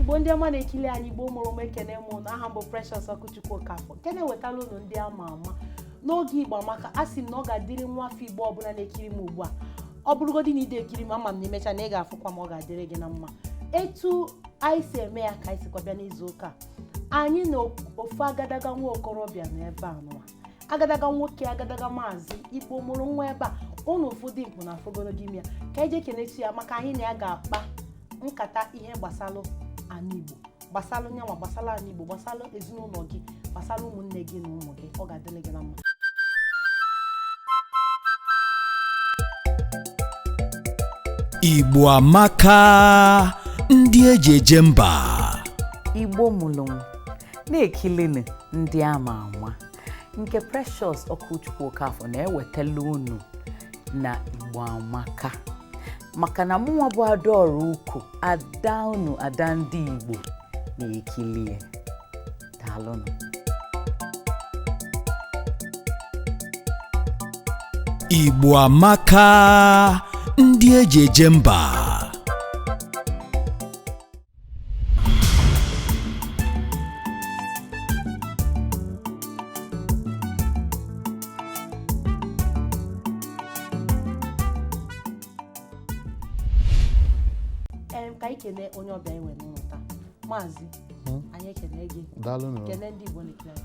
igbo ndị ọma na-ekili anyị igbo mụrụ m ekene m ụnụ aha m bụ Precious Ọkụchukwu Okafọ nke na-ewetala ụnụ ndị ama ama n'oge igbo amaka a sị m na ọ ga-adịrị nwa afọ igbo ọbụla na-ekiri m ugbu a ọ bụrụgodị na ide ekiri m ama m na imecha na ị ga-afụkwa m ọ ga-adịrị gị na mma etu anyị si eme ya ka anyị sikwa bịa n'izu ụka a, anyị na ofu agadaga nwa okorobịa na ebe a nụwa agadaga nwoke agadaga maazị igbo mụrụ nwa ebe a ụnụ ụfọdụ igbo na afọgoro gị ime ya ka eji ekenechi ya maka anyị na ya ga-akpa nkata ihe gbasalụ ana igbo gbasalụ nyanwa gbasalụ ana igbo gbasalụ ezinụlọ gị gbasalụ ụmụnne gị na ụmụ gị ọ ga-adịrị gị na mma igbo amaka ndị eji eje mba igbo mụrụ m na-ekilini ndị ama ama nke Precious Ọkụchukwu Okafọ na-ewetala unu na Igbo Amaka maka na mụnwa bụ adaọra ukoh ada unu ada ndị Igbo na-ekilie daalụnụ Igbo Amaka ndị eji eje mba em ka anyị kenee onye ọbịa anyị nwere n'ụnọ taa maazị anyị ekene gị daalụ nụ kenee ndị igbo na-ekene anyị.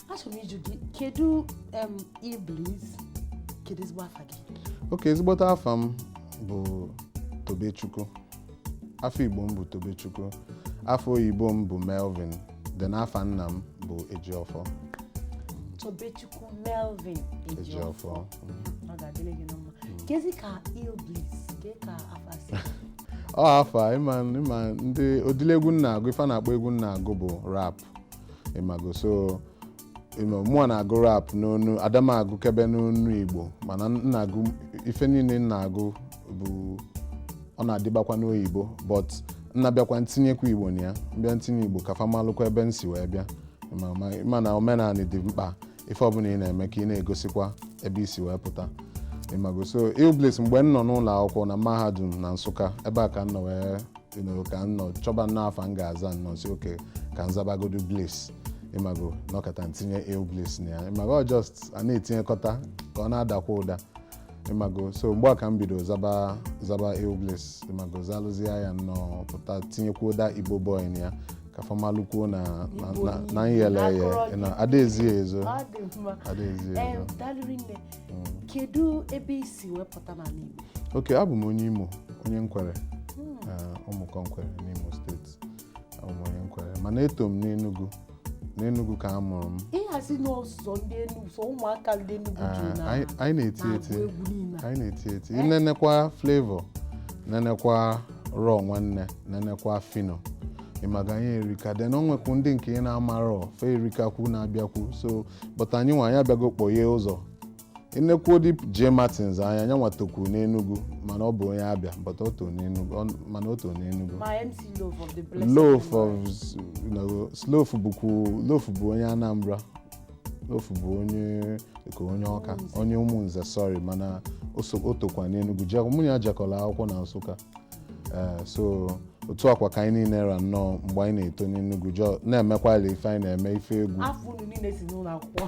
achọrọ m ịjụ gị kedu em Illbliss kedu ezigbo afa gị okay ezigbote afa m bụ tobechukwu afa igbo m bụ tobechukwu afa oyibo m bụ melvin then afa nna m bụ ejiọfọ tobechukwu melvin ejiọfọ ejiọfọ mm. ọ ga-adịrị gị na mma kezi ka Illbliss kee ka afa si ọ afa ịma ịma ndị ụdịlị egwu m na-agụ ife a na-akpọ egwu m na-agụ bụ rap ịmago so ịma mụọ na-agụ rap n'onu ada m agụkebe n'onu igbo mana m na-agụ ife niile m na-agụ bụ ọ na-adịbakwa n'oyibo but m na-abịakwa ntinyekwa igbo na ya m bịa ntinye igbo ka fa malụkwa ebe m si wee bịa ma- ma- mana omenaanị dị mkpa ife ọbụla ị na-eme ka ị na-egosikwa ebe i si wee pụta ịmago so Bliss mgbe m nọ n'ụlọ akwụkwọ na mahadum na Nsụka ebe a ka m nọ wee ka m nọ chọba nnọọ afa m ga-aza m nọọ sị okay ka m zabagodu Bliss ịmago nọkata ntinye Illbliss na ya ịmago just a na-etinyekọta ka ọ na-adakwa ụda ịmago so mgbe a ka m bido zaba zaba Illbliss ịmago zalụzie ya nnọọ pụta tinyekwuo Dat Ibo Boy na ya ka fa malukwuo na na nyele ya na adaezie ezo adaezie ezo mm. kedu ebe i si wepụta n'ala Igbo okay abụ m onye Imo onye Nkwere hmm. eh, Ụmụkọ Nkwere n'Imo steeti onye Nkwere mana eto m n'Enugu n'Enugu ka a mụrụ m ịhazi na ọ sọ ndị Enugu sọ ụmụaka ndị Enugu ji ah, na anyị na-eti eti anyị na-eti eti eh? i nenekwa Flavour nenekwa Raw nwanne nenekwa Phyno ịmaga anyị erika then o nwekwu ndị nke ị na-amarọ fa erikakwu na-abịakwu so but anyị nwa anyị abịago kpọghee ụzọ i nekwuo ndị J Martins nya nya nwa tokwuru n'Enugu mana ọ bụ onye Abịa but o too n'Enugu ọ- mana o too n'Enugu ma MC Loph of the blessed Loph of memory. s- you know, so Loph bụkwu Loph bụ onye Anambra Loph bụ onye ka onye Ọka onye Ụmụnze sorry mana o so- o tokwa n'Enugu Je- mụ na ya jekọrọ akwụkwọ na Nsụka Eh, so otu akwa ka anyị niile ra nnọọ mgbe anyị na-eto n'Enugu jọ na-emekwala ife anyị na-eme ife egwu afọ unu niile si n'ụlọ akwụkwọ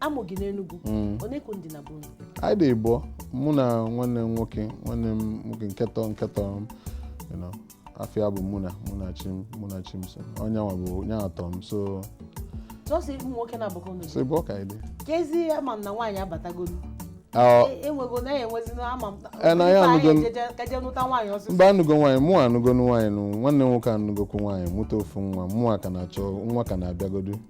a mụ gị n'Enugwu Mm. one ka unu dị na be unu anyị dị ịbụọ mụ na nwanne m nwoke nwanne m nwoke nke tọ nke tọ m you know, afa ya bụ Muna Munachim Munachimso ọ nya nwa bụ onye tọ m so sọsọ ụmụ nwoke naabọ ka unu so ịbụọ ka anyị dị ka ezi ama m na nwaanyị abatagolu Ah, E- enwego na ya enwezi na ama m Eh, na ya Ife anyị anụgo- ejeje- ka je nụta nwaanyị ọsịsọ mba anụgo nwaanyị mụ anụgo nwaanyị nụ nwanne m nwoke anụgokwu nwaanyị mụta ofu nwa mụwa ka na-achọ nwa ka na-abịagodu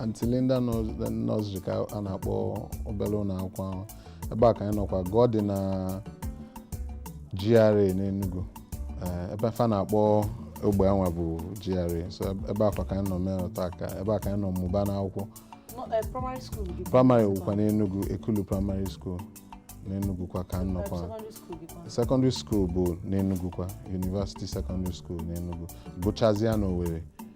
Aunty Linda Nursery ka a na-akpọ obere ụlọ akwụkwọ ahụ ebe a ka anyị nọkwa gụọ dị na GRA n'Enugu eh, ebe fa na-akpọ ogbe anwa bụ GRA so ebe akwa ka anyị nọ mee ọta akara ebe a ka anyị nọ mụba n'akwụkwọ eh, primary wụkwa n'Enugu Ekulu Primary School n'Enugu kwa ka m nọkwa secondary school bụ n'Enugu kwa University Secondary School n'Enugu gụchazie na Owerri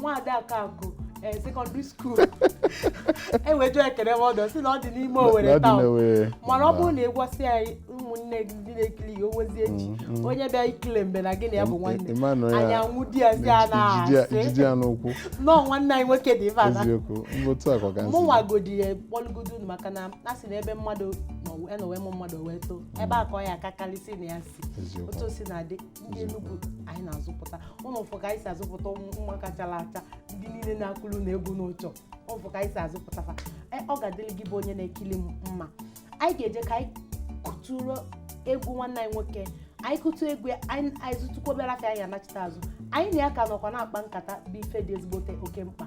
nwaada akụ eh, secondary school enwejuo ekele m ọdọ si na ọ dị n'ime Owerri town mana ọ bụrụ na ị gwasị ya ụmụnne gị ndị na-ekiri ya owezie echi mm, mm. onye bịa ikele mgbe na gị na ya bụ nwanne anyị anwụ di ya si a na-asị nọọ nwanne anyị nwoke dị ife ana mụnwa godi ya kpọlụgodo unu maka na a sị na ebe mmadụ nọwe mụ mmadụ wee too mm. ebe a ka ọ ya aka karịsị na ya si otu o si na-adị ndị Enugu anyị na-azụpụta unu afụ ka anyị si azụpụta ụmụaka chara acha ndị niile na-akụrụ unu egwu unu chọ ịfụ ka anyị si azụpụta fa E, ọ ga-adịrị gị bụ onye na-ekiri m mma anyị ga-eje ka anyị kụtụrụ egwu nwanne anyị nwoke anyị kụtụ egwu ya, anyị anyị zụtụkwa obere afịa anyị anachite azụ anyị na ya ka nọkwa na-akpa nkata bụ ife dị ezigbote oke mkpa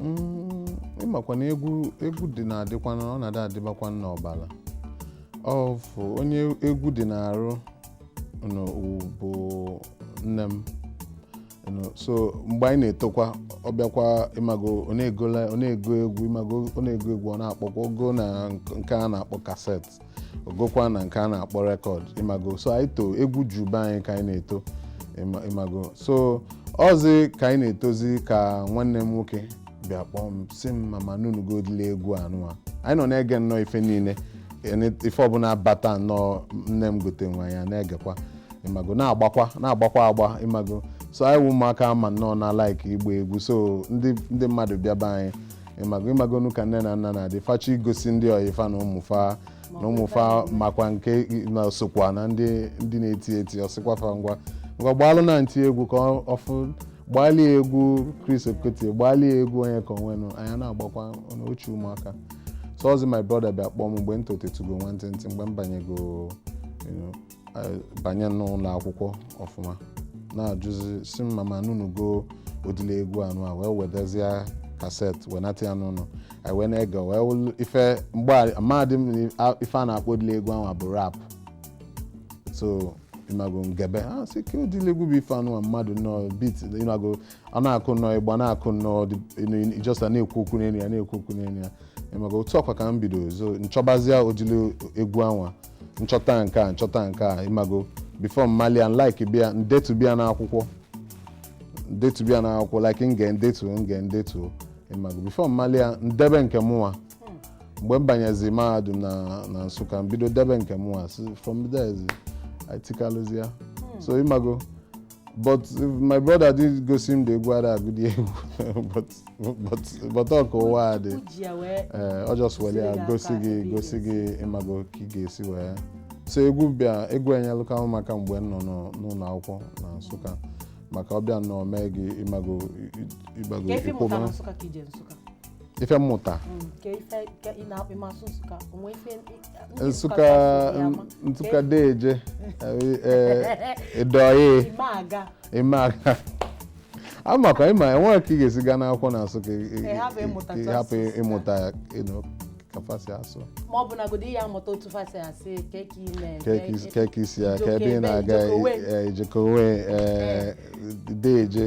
Mm, ịmakwa na egwu egwu dị na-adịkwa na ọ na-adị adịbakwa n'ọbala ofu onye egwu dị n'arụ nụ bụ nne m nụ. so mgbe anyị na-etokwa ọ bịakwa ịmago ọ na-egola- ọ na-ego egwu ịmago ọ na-ego egwu ọ na-akpọkwa o go na nk- nke a na-akpọ cassette o gokwa na nke a na-akpọ record ịmago so anyị too egwu ju be anyị ka anyị na-eto ịma- ịmago so ọzi ka anyị na-etozi ka nwanne m nwoke bịa kpọọ m sị m ma m anụnụgo ụdịlị egwu anụwa anyị nọ na-ege nnọọ ife niile ene- ife ọbụla bata nnọọ nne m gote nnọọ anyị na-egekwa ịmago na-agbakwa na-agbakwa agba ịmago so anyị wụ ụmụaka ma nnọọ na like ịgba egwu so ndị ndị mmadụ bịa be anyị ịmago ịmagonu ka nne na nna na-adị fa chọ igosi ndị ọyị fa na ụmụ fa na ụmụ fa makwa nke na sokwa na ndị ndị na-eti eti ọ sịkwa fa ngwa ngwa gbaalụnụ aunty egwu ka ọ- ọ fụ gbaali egwu Chris Okotie gbaali egwu Onyeka Onwenu anyị na-agbakwa ọnụ ọchị ụmụaka so ọzi my brother bịa kpọọ m mgbe m totetugo nwantịntị mgbe m banyego you know, banye n'ụlọ akwụkwọ ọfụma na-ajụzi sị m ma m anụnụgo ụdịlị egwu anụwa wee wetazie cassette wenata ya n'ụlọ anyị wee na-ege wee wụlụ ife mgbe amadị m ife a na-akpọ ụdịlị egwu anwa bụ rap so ịmago ngebe ya sị kee ụdịlị egwu bụ ife anụwa mmadụ nnọọ beat ịmago ọ na-akụ nnọọ ịgba na-akụ nnọọ ọ just na-ekwu okwu n'elu ya na-ekwu okwu n'elu ya ịmago otu ọkwa ka m bido so nchọbazia ụdịlị egwu anwa nchọta nke a nchọta nke a ịmago before m malịa like bịa ndetube ya n'akwụkwọ ndetube ya n'akwụkwọ like nge ndetu nge ndetu ịmago before m malịa ndebe nke mụnwa mgbe m banyezi mahadum na na Nsụka m bido debe nke mụnwa si- from there zi- etikalụzi ya so ịmago but my brother did gosi m ụdị egwu ada agụdị but but but ka ụwa dị ọ just welụ ya gosi gị gosi gị ịmago ka ị ga-esi wee so egwu bịa egwu enyelụkwa mụ aka mgbe m nọ n'ụlọ akwụkwọ na Nsụka maka ọ bịa na-eme gị ịmago ịgbago ịkwụba ife mmụta Nsụka Nsụka deje ị dị ọyị ime aga amakwa ịma enwerọ ka ị ga-esi gaa n'akwụkwọ na Nsụka ị hapụ ịmụta ya ka fa si asụ ma ọ bụnagodi ya amụta otu fa si asị kee ka ị mee kee ka isi ya ka ebe ị na-aga ị jekọ wee deje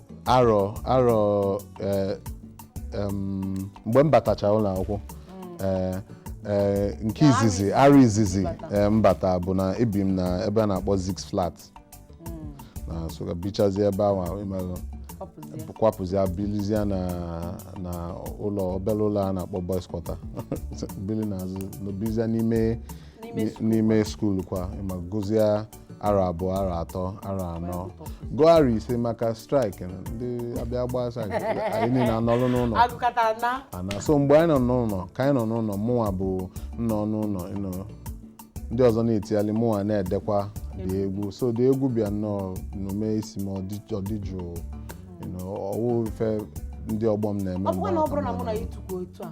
arọ arọ eh, em, mgbe m batacha ụlọ akwụkwọ eh, eh, nke Na arọ izizi izizi arọ izizi mbata. eh, mbata bụ na ebi m na ebe a na-akpọ Zik's Flat na Nsụka bichazie ebe ahụ ahụ ịmalụ Ọ pụzie. kwapụzia bilizia na na ụlọ obere ụlọ a na-akpọ boys quarter bili n'azụ nọbizia n'ime N'ime n'ime skuul kwa m agụzia arọ abụọ arọ atọ arọ anọ gụọ arọ ise maka strike ndị a bịa gbaa strike anyị niile anọrụ n'ụlọ agụkata na ana so mgbe anyị nọ n'ụlọ ka anyị nọ n'ụlọ mụnwa bụ nọ n'ụlọ you know, ndị ọzọ na-etigharị mụnwa na-edekwa the egwu so the egwu bịa nnọọ n'ime isi m ọ dị- ọ dị jụụ you know, ọ wụ ife ndị ọgbọ m na-eme ọ bụkwa mgbe na ọ ahụ ka bụrụ m na mụ na na-anọ. ya tukwu otu a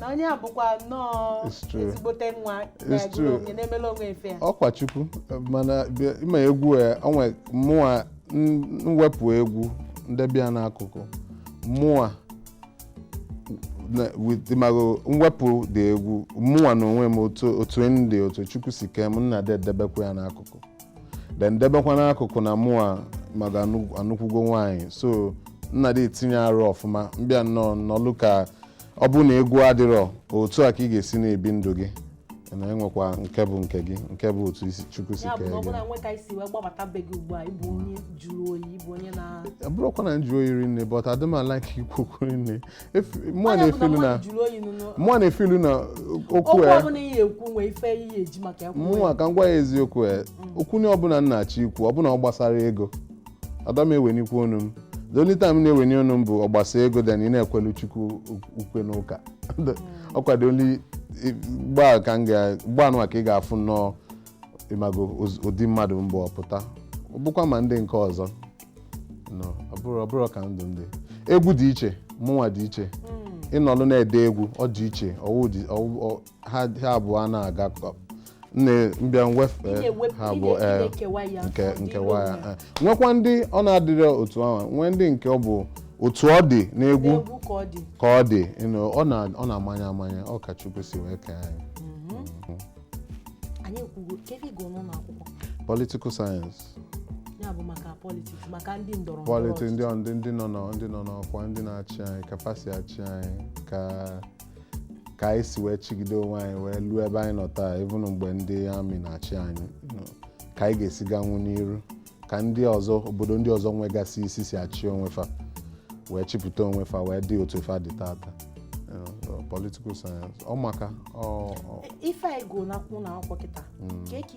na onye a bụkwa nnọọ It's true. ezigbote nwa It's na-egwuru true. onwe na-emela onwe ife ya ọkwa chukwu mana bịa- ịma egwu ya onwe mụwa n- mwepụ egwu m debe ya n'akụkụ mụwa na- with- ịmago mwepụ the egwu mụwa na onwe m otu otu m dị otu chukwu si kee m m na-adị edebekwa ya n'akụkụ then debekwa n'akụkụ na mụwa ịmago anụkwugo nwaanyị so m na-adị etinye arụ ọfụma m bịa nnọọ nọlụ ka ọ bụ na egwu adịrọ otu a ka ị ga-esi na-ebi ndụ gị na enwekwa nke bụ nke gị nke bụ otu isi chukwu si ya bụ kee na ọ gị bụrụ na nwe ka anyị si wee gbabata be gị ugbu a ịbụ onye jụrụ oyi ịbụ onye na ọ bụrụkwa na m jụrụ oyi rinne but adị m alike ikwu okwu rinne mụwa na-efe ilu na mụwa na-efe ilu na okwu ya mụnwa ka m gwa ya eziokwu ya okwu nine ọbụla m na-achọ ikwu ọbụna ọ gbasara ego ada m ewenikwu onu m the only time na-eweni onu m bụ ọ gbasa ego then ị na-ekwelu chukwu ukwe n'ụka ọkwa the only gbaa ka m ga-gbaa nwa ka ị ga-afụ nnọọ ịmago ụdị mmadụ m bụ ọ pụta ọ bụkwa ma ndị nke ọzọ no ọ bụrụ ọ bụrụ ka ndụ ndị egwu dị iche mụnwa dị iche ịnọlụ na-ede egwu ọ dị iche ọwụ dị ọwụ- ọ- ha ha abụọ na-aga kọ- nne m bịa mwefee Ịna-ewep- ha abụọ ịna- ee, ịna-ekewa ya, nke ọ dị nkewa ya n'onwe ya. ee. nwekwa ndị ọ na-adịrị otu ahụ nwee ndị nke ọ bụ otu ọ dị n'egwu egwu ka ọ dị ka ọ dị you know, ọ na- ọ na-amanye amanye ọ ka Chukwu si wee kee anyị anyị ekwugo kedu ị gụrụ n'ụlọ akwụkwọ political science ya bụ maka politiks maka ndị ndọrọ ndọrọ pọliti ndị ọchịchị. ndị ndị nọ nọ- ndị nọ n'ọkwa ndị na-achị anyị ka fa si achị anyị ka ka anyị si wee chigide onwe anyị wee luo ebe anyị nọ taa even mgbe ndị army na-achị anyị you know, ka anyị ga-esi ganwu n'iru ka ndị ọzọ obodo ndị ọzọ nwegasị isi si achị onwe fa wee chịpụta onwe fa wee dị otu fa dị tata You know, so political science ọ maka ọ ọ- ife anyị gụrụ n'akwụkwọ na akwụkwọ kịta ka eke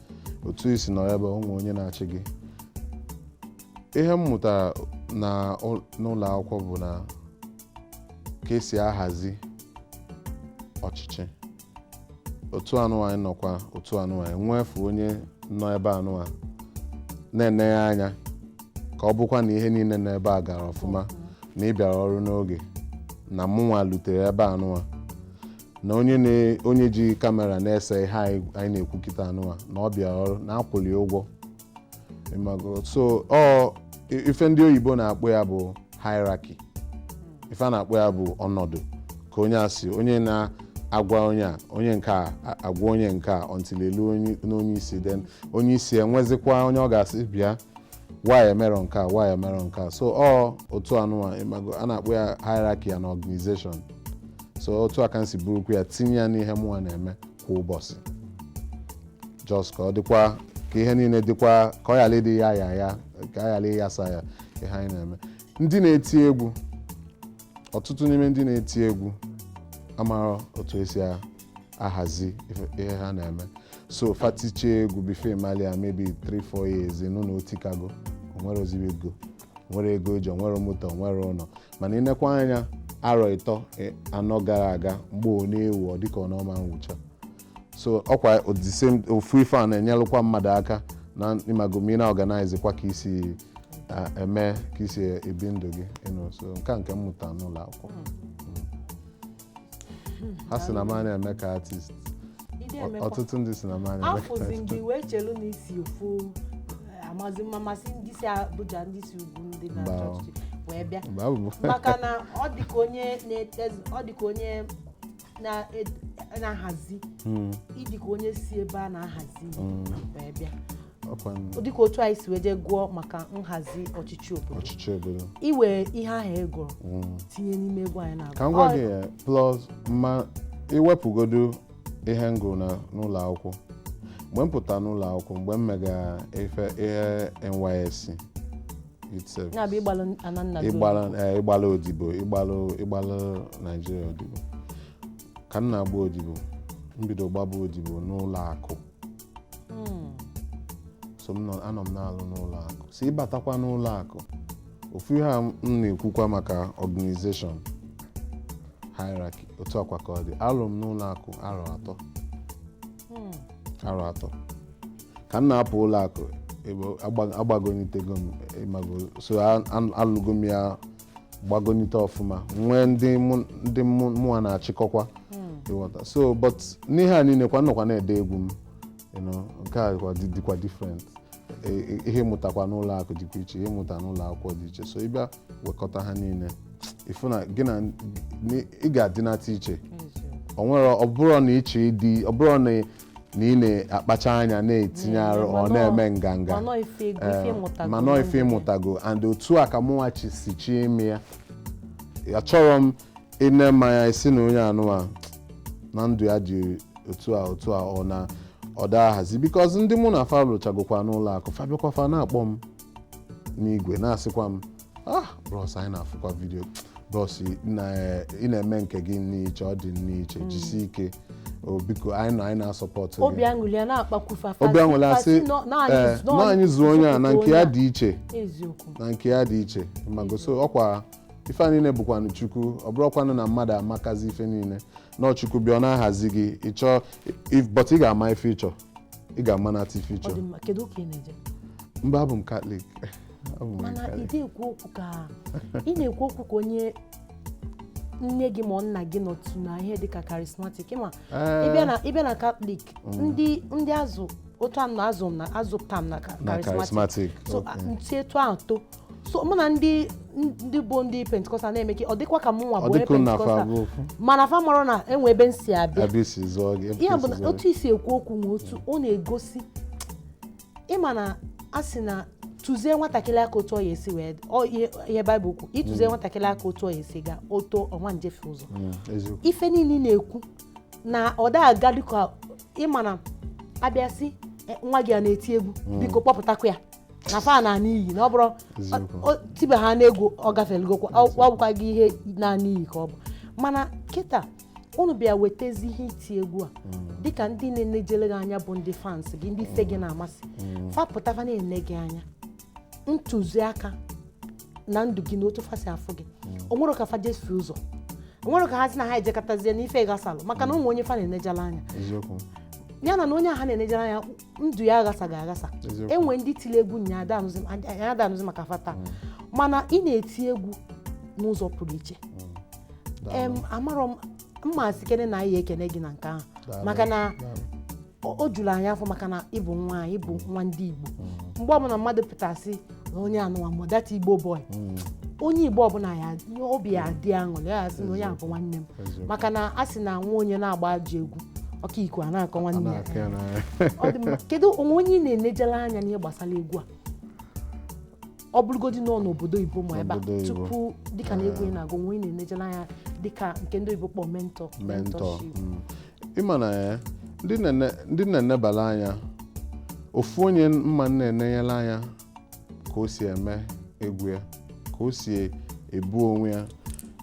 otu isi nọ ebe o nwe onye na-achị gị ihe m mụtara n'ụlọ akwụkwọ bụ na ka esi ahazi ọchịchị otu anụwa anyị nọkwa otu anụwa anyị nwefu onye nọ ebe anụwa na-ene ya anya ka ọ bụkwa na ihe niile nọ ebe a gara ọfụma na ị bịara ọrụ n'oge na mụnwa lutere ebe anụwa na onye na onye ji kamera na-ese ihe anyị anyị na-ekwu kịta anụwa na ọ bịara ọrụ na a kwụlụ ya ụgwọ ịmago so ọ i- ife ndị oyibo na-akpọ ya bụ hierarchy ife a na-akpọ ya bụ ọnọdụ ka onye a si onye na-agwa onye a onye nke a a- agwa onye nke a until e luo onye- n'onye isi then onye isi enwezikwa onye ọ ga-asị bịa why emerọ nke a why emerọ nke a so ọ otu anụwa ịmago a na-akpọ ya hierarchy ya na organization so otu a ka m si burukwu ya tinye ya n'ihe mụnwa na-eme kwa ụbọchị just ka ọ dịkwa ka ihe niile dịkwa ka ọ ghara ịdị ya ya ya ka a ghara ịyasa ya ihe anyị na-eme ndị na-eti egwu ọtụtụ n'ime ndị na-eti egwu amarọ otu esi a- ahazi ihe ha na-eme so fa tichaa egwu before ị malụ ya maybe 3-4 years nụ na o tikago o nwerọzi ego nwerọ ego e ji o nwerọ moto o nwerọ ụlọ mana ị nekwaa anya arọ ịtọ e, anọ gara aga mgbe ọ na-ewu ọ dịka na ọ ma nwụcha so ọkwa ofu ife a na-enyelụkwa mmadụ aka na ịmago ma ị na-organize kwa ka i si eme ka i si ebi ndụ gị so nke a nke m mụta n'ụlọ akwụkwọ hmm. ha sị na m anaghị eme ka artist Ide Ọ- emekwa. ọtụtụ ndị sị na m anaghị eme ka afụzi artist ndị wee chelu na i si ofu eh, amazi m ma a sị ndị si Abuja ndị si ugwu ndị na Mba. chọọchị wee bịa mgbe abụ m maka na ọ dịka onye na-edezi ọ dịka onye na-ed- na-ahazi Hmm. ị dịka onye si ebe a na-ahazi ihe wee bịa dịka otu anyị si wee je gụọ maka nhazi ọchịchị obodo i wee ihe ahụ ị gụrụ mm. tinye n'ime egwu anyị na-agụ ka m gwa gị ya plus ma i wepụgodu ihe m gụrụ n'ụlọ akwụkwọ mgbe m pụta n'ụlọ akwụkwọ mgbe m mega ife ihe NYSC ịgbala eh, odibo ịgbala Nigeria odibo ka m na-agba odibo m bido gbaba odibo n'ụlọ akụ hmm. so anọ m na-alụ n'ụlọ akụ si ị batakwa n'ụlọ akụ ofu ihe a m na-ekwukwa maka organization hierarchy otu a kwa ka ọ dị alụ m n'ụlọ akụ arọ atọ hmm. arọ atọ ka m na-apụ ụlọ akụ agbagonitego m ịmago so alụgo m ya gbagonite ọfụma nwee ndị mụ- ndị mụ- mụnwa na-achịkọkwa ị ghọta so but n'ihe a niile kwa m nọkwa na-ede egwu m you know, nke a kwa dị- dịkwa different E- e- ihe m mụtakwa n'ụlọ akụ dịkwa iche ihe m mụta n'ụlọ akwụkwọ dị iche so ị bịa wekọta ha niile ị fụ na gị na n- ị ga-adịnata iche o nwere ọ bụrụ na ị chọọ ịdị ọ bụrụ na na ị na-akpacha anya na-etinye arụ ọ na-eme nganga mana ọ ife ị mụtago and otu a ka mụnwa si chi ime ya achọrọ m ị nee m anya ị sị na onye a nụwa na ndụ ya dị otu a otu a ọ na ọ da-ahazi because ndị mụ na fa lụchagokwa n'ụlọ akụ fa bịakwa fa na-akpọ m n'igwe na-asịkwa m ah bros anyị na-afụkwa vidio bros ị na- ị na-eme nke gị n'iche ọ dị n'iche jisie ike o biko anyị nọ anyị na-asọpọtụ obi gị aṅụli ya na-akpakwu fa obi aṅụrị a sị ee, na anyị zuo onye a na nke ya dị iche eziokwu na nke ya dị iche mago so ọkwa ife a niile bụkwanụ chukwu ọ bụrọkwanụ na mmadụ amakazi ife niile na chukwu bịa ọ na-ahazi gị ị chọọ if- but ị ga-ama ife ị chọ ị ga-amanata ife ị chọ ọ dị mma kedu ụka ị na-eje mba abụ m katọlik abụ m mana ị katọlik na-ekwu okwu ka ị na-ekwu okwu ka onye nne gị ma ọ nna gị nọtụ na ihe dịka karismatik ma Ee, ị bịa na ị bịa na katọlik ndị ndị azụ otu a m na azụ m na a zụpụta m na ka- na karismatik charismatic so okay. m si etu ahụ too so mụ na ndị ndị bụ ndị pentikọstal na-eme ka ọ dịkwa ka mụ nwa ọ bụ onye dịka unu na fa pentikọstal abụ ofu mana fa mara na e nwe ebe m si abịa abịa e si zụọ gị ebe ya bụ isi na zụọ otu i si ekwu okwu nwe otu ọ na-egosi ị ma na a sị na tụzie nwatakịrị aka otu ọ ya esi wee ọ ihe ihe baịbụl kwu ị tụzie nwatakịrị aka otu ọ ya esi ga o too ọ ma ejefe ụzọ gị. Mm, eziokwu ife niile ị na-ekwu na ọ da aga dịka ị ma na a bịa sị "Eh, nwa gị a na-eti egwu biko kpọpụtakwa ya na fa naa n'iyi na ọ bụrụ Eziokwu. ọ- ọ- tibe ha n'egwu ọ gafelugokwa ọ ọ bụkwa gị ihe na n'iyi ka ọ bụ mana kịta unu bịa wetezi ihe iti egwu a dịka ndị na-enejere gị anya bụ ndị fans gị ndị ife gị na-amasị fa pụta fa na-ene gị anya ntụziaka na ndụ gị na otu fa si afụ gị o nwere ka fa jesi ụzọ o nwere ka ha si na ha ejekọtazie n'ife gbasalụ maka na ọ bụ onye fa na-enejele anya eziokwu ya na na onye ahụ na-enejere anya ndụ ya aghasaghị aghasa e nwe ndị tiri egwu nya a da-anụzi maka fa taa mm. mana ị na-eti egwu n'ụzọ pụrụ iche mm. amarọ m ma sị kene na anyị ekene gị na nke ahụ maka na o juru anyị afọ maka na ị bụ nwa anyị ị bụ nwa ndị Igbo mm. mgbe ọbụla mmadụ pụtasị na onye anụwa ma that igbo boy mm. onye igbo ọbụla ya obi ya dị aṅụrị ya asị na onye a bụ nwanne m maka na a sị na nwa onye na-agba ajọ egwu ọkọ iku a na-akọ nwanne ya kedu o nwe onye ị na-enejere anya n'ihe gbasara egwu a ọ bụrụgodị nọ n'obodo oyibo ma ebe a tupu dịka na egwu ị na-agụ o nwe onye ị na-enejere anya dịka nke ndị oyibo kpọ mentor mm. ị ma na ya ndị na-ene- ndị m na-enebala anya ofu onye m ma m na-enenyela anya ka o si eme egwu ya ka o si ebu onwe ya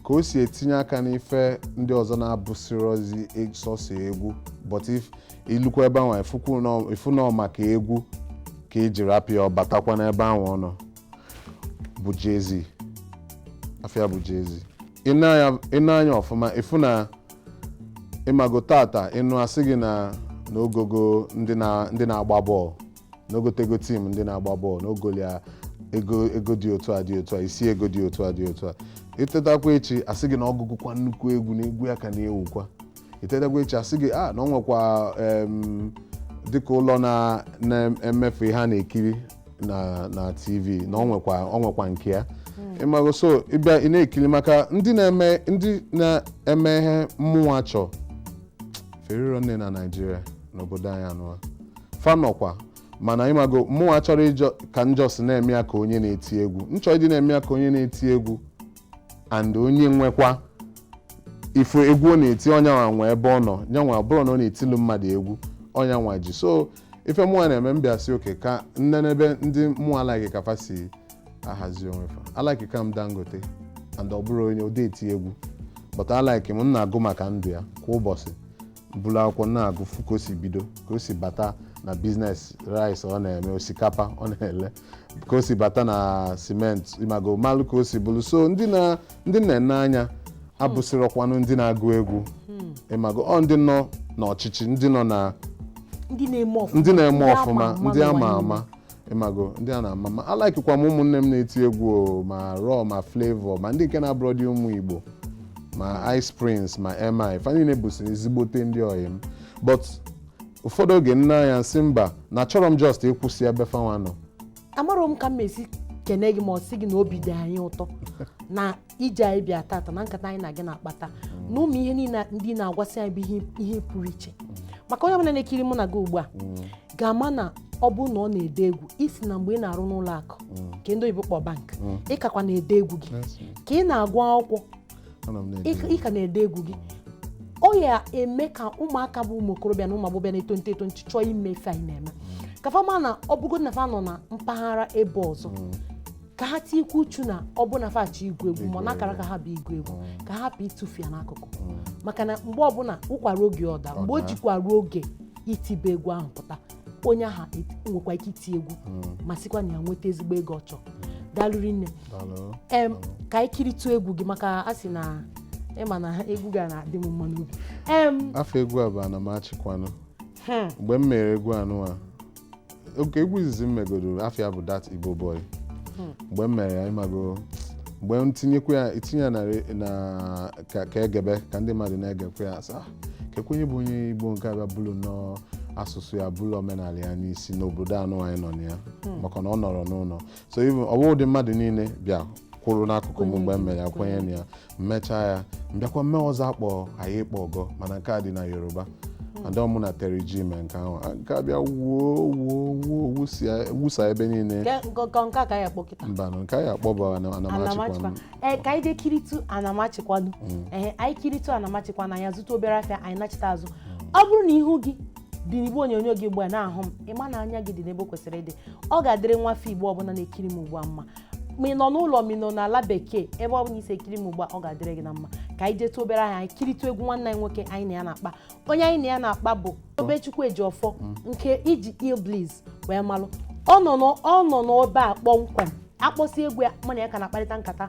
ka o si etinye aka n'ife ndị ọzọ na-abụsịrọzi e- sọsọ egwu but if i lukwa ebe ahụ ị fụ na ọ maka egwu ka e ji rapụ ya ọ batakwa n'ebe ahụ ọ nọ bụ Jay-Z afa ya bụ Jay-Z i nee anya ọfụma ị fụ na ị mago taata ị nụ a sị gị na na o gogo ndị na- ndị na-agba bọọlụ na o gotego tim ndị na-agba bọọlụ na o golu ya ego ego dị otu a dị otu a isi ego dị otu a dị otu a i tetakwa echi a sị gị na ọ gụgokwa nnukwu egwu na egwu ya ka na-ewukwa i tetakwa echi a sị gị a na o nwekwa em, dịka ụlọ na- na-emefu ihe a na-ekiri na na tv na ọ nwekwa ọ nwekwa nke ya ị mago so ị bịa ị na-ekiri maka ndị na-eme ndị na-eme ihe mụnwa chọ fa erirọ nne na Naịjirịa n'obodo anyị anụwa fa nọkwa mana ị mago mụnwa achọrọ ịjọ ka m just na-eme ya ka onye na-eti egwu m chọ ịdị na-eme ya ka onye na-eti egwu and onye nwekwa ife egwu ọ na-eti ọ nyanwa nwe ebe ọ nọ nyanwa ọ bụrọ na ọ na-etilu mmadụ egwu ọ nyanwa ji so ife mụnwa na-eme m bịa sị okay ka m nenee ebe ndị mụwa like ka fa si ahazi onwe fa alaikika m Dangote and ọ bụrọ na ọ dị eti egwu but alaiki m m na-agụ maka ndụ ya kwa ụbọchị buru akwụkwọ na-agụ fụ ka o si bido ka o si bata na biznes rice ọ na-eme osikapa ọ na-ele ka o si bata na simenti ị mago malụ ka o si bulu so ndị na ndị m na-ene anya abụsịrọkwanụ ndị na-agụ egwu ị mago ọ ndị nọ n'ọchịchị ndị nọ na ndị na-eme ọfụma ndị na-eme ọfụma ndị ama ama ị mago ndị a na-ama ama alaikikwa m ụmụnne m na-eti egwu o, ma Raw ma Flavour ma ndị nke na-abụrọdị ụmụ Igbo ma Ice Prince ma MI fa niile bụsị ezigbote ndị ọyị m but ụfọdụ oge m nee anya m sị mba na achọrọ m just ịkwụsị ebe fanwa nọ amarọ m ka m esi kenee gị ma gosi gị na obi dị anyị ụtọ na ije anyị bịa tata na nkata anyị na gị na-akpata na ụmụ ihe niile ndị na-agwasị anyị bụ ihe pụrụ iche maka onye ọbụla na-ekiri mụ na gị ugbu a ga-ama na ọ bụ na ọ na-ede egwu ị sị na mgbe ị na-arụ n'ụlọ akụ nke ndị oyibo kpọ bank ị kakwa na-ede egwu gị ka ị na-agụ akwụkwọ ị ka na-ede egwu gị ọ ya-eme ka ụmụaka bụ ụmụ okorobịa na ụmụ agbọghọbịa na-eto nto eto nchi chọọ ime ife anyị na-eme ka fa ma na ọ bụgo na fa nọ na mpaghara ebe ọzọ ka ha tinyekwuo uchu na ọ bụ na fa chọ igwu egwu ma ọ na akara aka ha bụ igwu egwu mm. ka ha hapụ ịtụfu ya n'akụkụ mm. maka na mgbe ọbụla ụkwara oge ọda mgbe o jikwa ruo oge itibe egwu ahụ pụta onye ahụ nwekwa ike iti egwu mm. ma sikwa na ya nweta ezigbo ego ọ chọrọ dalụ rinne em ka anyị kiritụ egwu gị maka a sị na ị ma na egwu gị a na-adị m mma n'obi afa egwu a bụ Anamachikwanụ hmm. mgbe m mere egwu anụwa okay egwu izizi m megodoro afa ya bụ Dat Igbo Boy mgbe m mere ya ị mago mgbe m tinyekwa ya i tinye ya na re- na ka ka e gebe ka ndị mmadụ na-egekwa ya a sị kekwa onye bụ onye Igbo nke a bịa bulu nnọọ asụsụ ya bulu omenala ya n'isi n'obodo anụwa anyị nọ na ya maka na ọ nọrọ n'ụnọ so even ọ bụghịdị mmadụ niile bịa kwụrụ n'akụkụ m mgbe m mere ya kwenye na ya m mechaa ya m bịakwa mee ọzọ a kpọ Aiye Po Gan mana nke a dị na Yoruba and ọ mụ na Terry G mee nke ahụ a nke a bịa wuo wuo wuo wusia- wusa ebe niile Nke- nke nke- nke a ka ya kpọ kịta mba na nke anyị akpọ bụ Anamachikwanụ Anamachikwanụ ee ka anyị jee kiritụ Anamachikwanụ ee anyị kiritụ Anamachikwanụ anyị azụta obere afịa anyị nachita azụ ọ bụrụ na ihu gị dị n'igbe onyonyo gị ugbu a na-ahụ m ị ma na anya gị dị n'ebe o kwesịrị ịdị ọ ga-adịrị nwa afọ Igbo ọbụla na-ekiri m ugbu a mma ma ị nọ n'ụlọ ma ị nọ n'ala bekee ebe ọbụla i si ekiri m ugbu a ọ ga-adịrị gị na mma ka anyị jetụ obere ahịa anyị kiritụ egwu nwanne anyị nwoke anyị na ya na-akpa onye anyị na ya na-akpa bụ Tobechukwu Ejiofor nke e ji iLLBliss wee malụ ọ nọ n'ebe a kpọmkwem a kpọsịa egwu ya mụ na ya ka na-akparịta nkata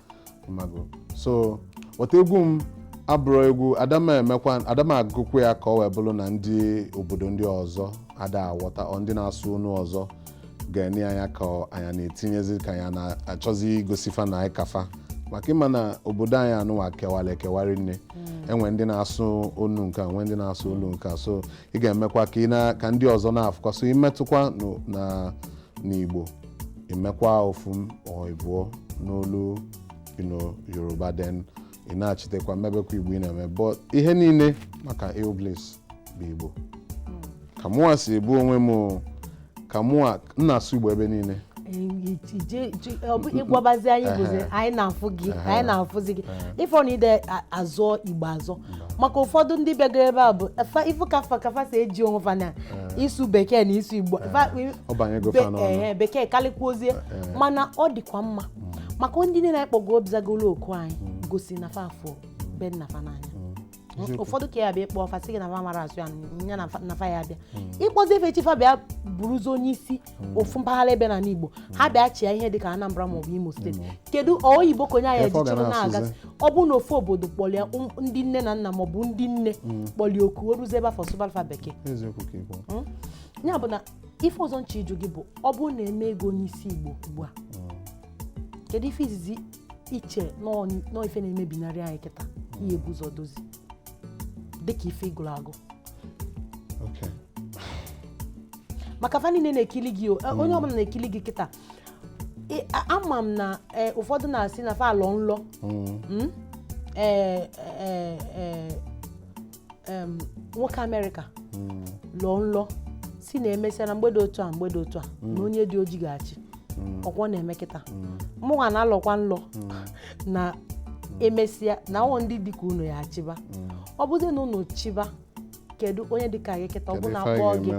ị mago so wọta egwu m abụrụ egwu adama emekwa adama agụkwu ya ka ọ wee bụrụ na ndị obodo ndị ọzọ ada aghọta ọ ndị na-asụ onu ọzọ ga-enye anya ka anyị na-etinyezi ka anyị na-achọzi igosi fa na anyị ka fa maka ị ma na obodo anyị anụwa kewara ekewara nne e nwee ndị na-asụ onu nke a nwee ndị na-asụ onu nke a so ị ga-emekwa ka ị na ka ndị ọzọ na-afụkwa so i metụkwa no- na n'Igbo i mekwa ofu ma ọ ịbụọ n'olu Yoruba then ị na-achitekwa mebekwa Igbo ị na-eme but ihe niile maka iLLBliss bụ Igbo hmm. ka mụwa si ebu onwe m ka mụwa m na-asụ Igbo ebe niile ị gwabazi anyị bụzi anyị na-afụ gị anyị na-afụzi gị ị fụ na ide azọ Igbo azọ maka ụfọdụ ndị bịagoro ebe a bụ fa- ịfụ ka fa ka fa si eji onwe fa na ịsụ bekee na ịsụ igbo Fa- ọ banyego be- fa n'ọnụ. ehe, bekee kalịkwuozie mana ọ dịkwa mma maka ndị niile anyị kpọgo bịa zagolo oku anyị gosi na fa fụ be nna fa n'anya ụfọdụ ka ya bịa ịkpọ fa sị gị na fa amarọ asụ ya na- ya na fa- na fa ya bịa ị kpọzie fa echi fa bịa bụrụzi onye isi hmm. ofu mpaghara ebe n'anị Igbo hmm. ha bịa chịa ihe dịka Anambra maọbụ Imo steeti hmm. kedu oyibo ka onye ahụ ejichịrị na-agazi ọ bụ na ofu obodo kpọlụ ya ndị nne na nna maọbụ ndị nne kpọlụ ya oku o ruzie ebe afụ ọ sụbalụ fa bekee ya bụ na ife ọzọ m chọ ịjụ gị bụ ọ bụrụ na e mee gị onye isi Igbo ugbu a kedu ife izizi ị che n'ife na-emebinarị anyị kịta ị ya-ebu ụzọ dozie dịka ife ị gụrụ agụ maka fa niile na-ekili gị eh, onye ọbụla na-ekili gị kịta ama m na eh, ụfọdụ na-asị na fa alọ nlọ mm. hmm? eh, nwoke amerịka mm. lọọ nlọ sị na emesịa na mgbe dị otu a mgbe dị otu a mm. na onye dị oji ga-achị ọ kwa ọ na-eme kịta mụnwa na-alọkwa nlọ na emesịa na ọ ndị dị ka unu ya achịba ọ bụzi na unu chịba kedu onye dị ka gị kịta ọ bụ na a kpọọ gị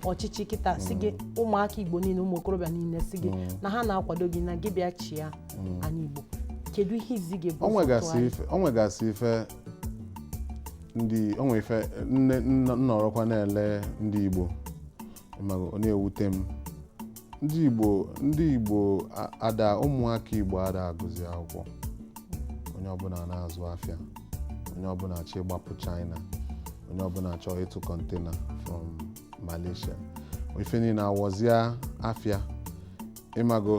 ọchịchị kịta sị gị ụmụaka igbo niile ụmụ okorobịa niile sị gị na ha na-akwado gị na gị bịa chịa anị igbo kedu ihe izi gị bụ o nwegasị ife o nwegasị ife ndị o nwe ife m nọrọkwa na-ele ndị igbo ọ na-ewute m ndị Igbo ndị Igbo ada ụmụaka Igbo ada agụzi akwụkwọ onye ọbụla na-azụ afịa onye ọbụla chọ ịgbapụ China onye ọbụla chọọ ịtụ container from Malaysia ife niile awọzie afịa ị mago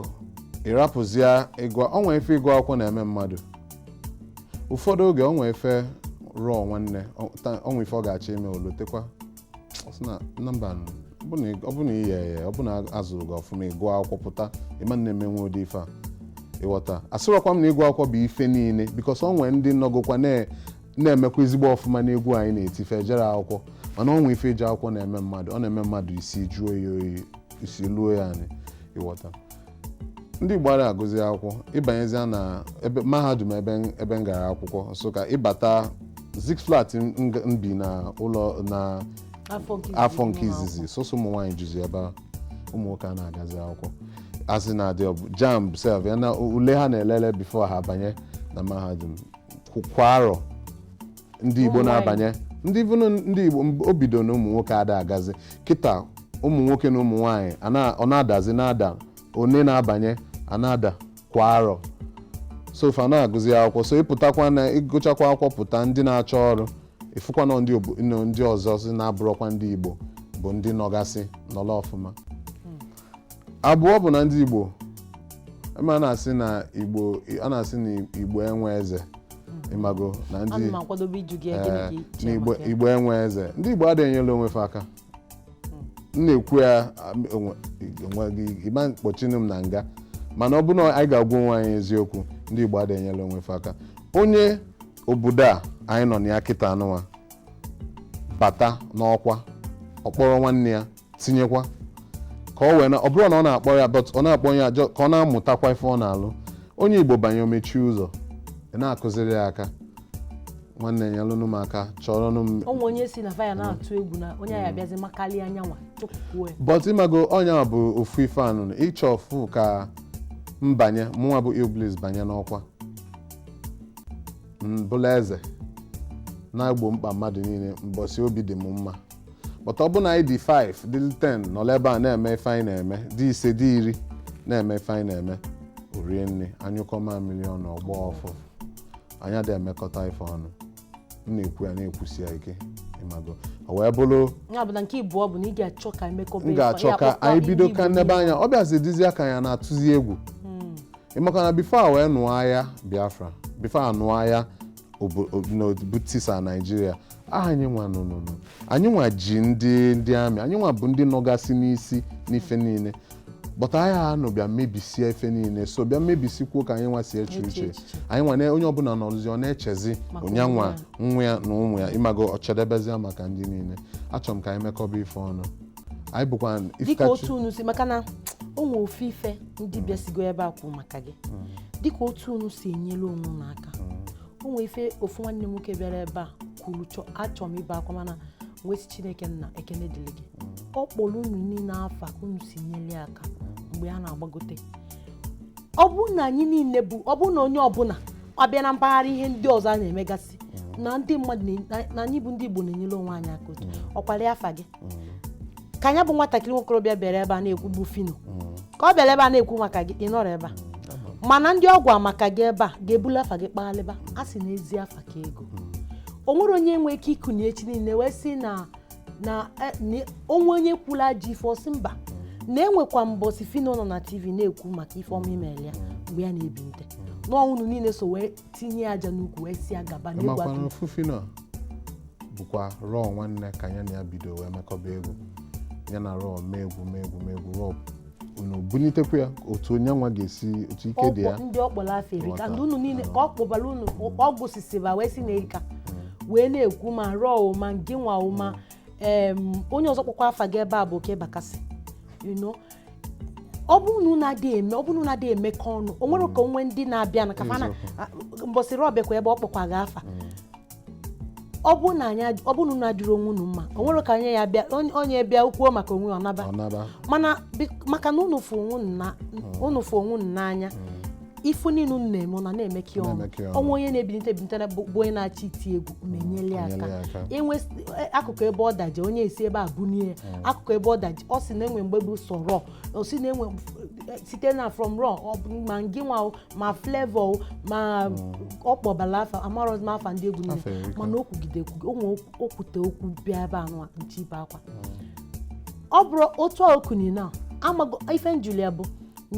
ị rapụzie ịgụ o nwe ife ịgụ akwụkwọ na-eme mmadụ ụfọdụ oge o nwe ife ruo nwanne o nwe ife ọ ga-achọ ime o lotekwa ọ sị na na mba nụ, ọ bụ na ị- ọ bụ na ị ya ya ọ bụ na azụrụ gị ọfụma ị gụọ akwụkwọ pụta ị ma na-emenwu ụdị ife a ị ghọta asịrọkwa m na ịgụ akwụkwọ bụ ife niile because o nwe ndị nọgokwa na- na-emekwa ezigbo ọfụma n'egwu anyị na-eti fa ejerọ akwụkwọ mana o nwe ife ije akwụkwọ na-eme mmadụ ọ na-eme mmadụ isi jụọ ya oyi isi luo ya anị ị ghọta ndị Igbo ara agụzi akwụkwọ ị banyezia na ebe mahadum ebe m- ebe m gara akwụkwọ Nsụka ị bata Zik's Flat m m- m bi na ụlọ na afọ nke izizi afọ nke nọ n'akwụkwọ. izizi sọsọ ụmụ nwaanyị juzi ebe ahụ ụmụ nwoke ana agazi akwụkwọ a sị na adị ọbụ JAMB sef ya na ule ha na-elele before ha banye na mahadum Kwa- kwa arọ ndị igbo na-abanye ndị vụnụ ndị igbo o bido na ụmụ nwoke ada agazi kịta ụmụ nwoke na ụmụ nwaanyị ọ na-adazi na-ada one na-abanye a na-ada kwa arọ so fa na-agụzi akwụkwọ so ị pụtakwa na ị gụchakwa akwụkwọ pụta ndị na-achọ ọrụ ị fụkwa na ndị ọzọsị na-abụrọkwa ndị igbo bụ ndị nọgasị nọla ọfụma hmm. abụọ bụ na ndị Igbo eme a na-asị na Igbo a na-asị na Igbo enwe eze ị mago na ndị Ana m akwadobe ịjụ gị ya, gịnị ka ị na-eche Igbo maka ya? Igbo enwe eze ndị Igbo ada enyela onwe fa aka m na-ekwu ya am- onwe- onwe gị ị ma kpọchinụ m na nga mana ọ bụrụ na anyị ga-agwa onwe anyị eziokwu ndị Igbo ada enyela onwe fa aka onye obodo a anyị nọ na ya kịta anụwa bata n'ọkwa ọ kpọrọ nwanne ya tinyekwa ka ọ wee na ọ bụrụ na ọ na-akpọ ya but ọ na-akpọ ya ka ọ na-amụtakwa ife ọ na-alụ onye igbo banye o mechie ụzọ a na-akụziri ya aka nwanne ya nyelụnụ m aka chọrọ nụ m o nwe onye sị na fa ya na-atụ egwu na onye a bịazi makarịa nyanwa but ị mago ọ nya bụ ofu ife anụ ị chọ ofu ka m banye mụnwa bụ illbliss banye n'ọkwa m bụlụ eze na-egbo mkpa mmadụ niile mbọsi obi dị m mma but ọ bụrụ na anyị dị 5 dị 10 nọrọ ebe a na-eme ife anyị na-eme dị ise dị iri na-eme ife anyị na-eme o rie nne a nyụkọ mamịrị ọnụ ọ gbọọ ụfụfụ anyị adịghị emekọta ife ọnụ m na-ekwu ya na-ekwusi ya ike ị mago o wee bụrụ ya bụ na nke ịbụọ bụ na ị ga-achọ ka emekọba m ga-achọ ka anyị bido ka nnebe anya ọ bịazi dịzịa ka anyị na-atụzi egwu ị makwa na before a wee nụọ agha biafra before a nụọ agha bụ tisa naijiria anyị nwa nụnụnụ anyị nwa ji ndị ndị army anyị nwa bụ ndị nọgasị n'isi n'ife niile but agha anụ bịa mebisie ife niile so bịa mebisikwuo ka anyị nwa si eche uche anyị nwa na onye ọbụla nọrụzi ọ na-echezi nyanwa nwa ya na ụmụ ya ị mago o chedebezia maka ndị niile achọrọ m ka anyị mekọba ife ọnụ anyị bụkwa dịka ifikachi otu unu si maka na o nwee ofu ife ndị bịasigo ebe a kwuru maka gị dịka otu unu si enyere onwe unu aka o nwee ife ofu nwanne m nwoke bịara ebe a kwuru achọrọ m ibe akwa mana m wee sị chineke nna ekene dịrị gị ọ kpọrọ unu niile afa ka unu si nyere ya aka mgbe a na-agbagote ọ bụrụ na anyị niile bụ ọ bụrụ na onye ọbụla abịa na mpaghara ihe ndị ọzọ a na-emegasị na ndị mmadụ na- na anyị bụ ndị igbo na-enyere onwe anyị aka otu ọkwara afa gị ka nya bụ nwatakịrị nwokorobịa bịara ebe a na-ekwu bụ phyno ka ọ bịara ebe a na-ekwu maka gị ị nọrọ ebe a mana ndị ọ gwa maka gị ebe a ga-ebulu afa gị kpaghalịba a sị na ezi afa ka ego o nwere onye nwee ike ikuni echi niile wee sị na na eh, na o nwe onye kwulu ajọ ife ọ sị mba na enwekwa mbọsi phyno nọ na tv na-ekwu maka ife ọma i mere ya mgbe ya na-ebilite n'ọnwụnụ niile so wee tinye aja n'ukwu wee si agaba n'egwu makwana Phyno bụkwa Raw Nwanne ka ya na ya bido wee mekọba egwu ya na Raw mee egwu mee egwu mee egwu Raw unu bunitekwa ya otu onye nwa ga-esi otu ike dị ya ọ kpọ ndị ọ kpọrọ afa erika Nghọta. ndị unu niile ka ọ kpọbara unu ọ gụsịsịba wee sị na erika wee na-ekwu ma Raw o, ma ngị nwa o, ma em, onye ọzọ kpọkwa afa gị ebe a bụ Okey Bakassi you know ọ bụrụ na unu adịghị eme ọ bụrụ na unu adịghị emekọ ọnụ o nwere ka o nwe ndị na-abịa na kafa na Eziokwu. mbọsị Raw bịakwa ebe ọ kpọkwa gị afa ọ bụrụ na anyị ad- ọ bụrụ na unu adịrị onwe unu mma o nwere ka onye ya-abịa onye- onye bịa kwuo maka onwe ya ọ naba ọ naba mana bi- maka na unu fụ onwe unu na- unu fụ onwe unu n'anya ife niile unu na-eme unu na-emekọ ya ọnụ Na-emekọ ya ọnụ. o nwe onye na-ebinite ebinite na- bụ bụ onye na-achọ iti egwu ma enyelu ya Enyelu ya aka aka. inwe s- e- akụkụ ebe ọ daje onye esi ebe a bunie ya akụkụ ebe ọ daje ọ sị na e nwe mgbe bụ sọ Raw ọ sị na e nwe e- site na from Raw ọ bụ ma ngị nwa o ma Flavour o ma ọ kpọbala afa amarọzi m afa ndị egwu niile Afa erika. mana o kwugide ekwugide o nwee okwu- o kwute okwu bịa ebe anụwa na-achọ ibe akwa ọ bụrụ otu a okunye na amago ife m jụlụ ya bụ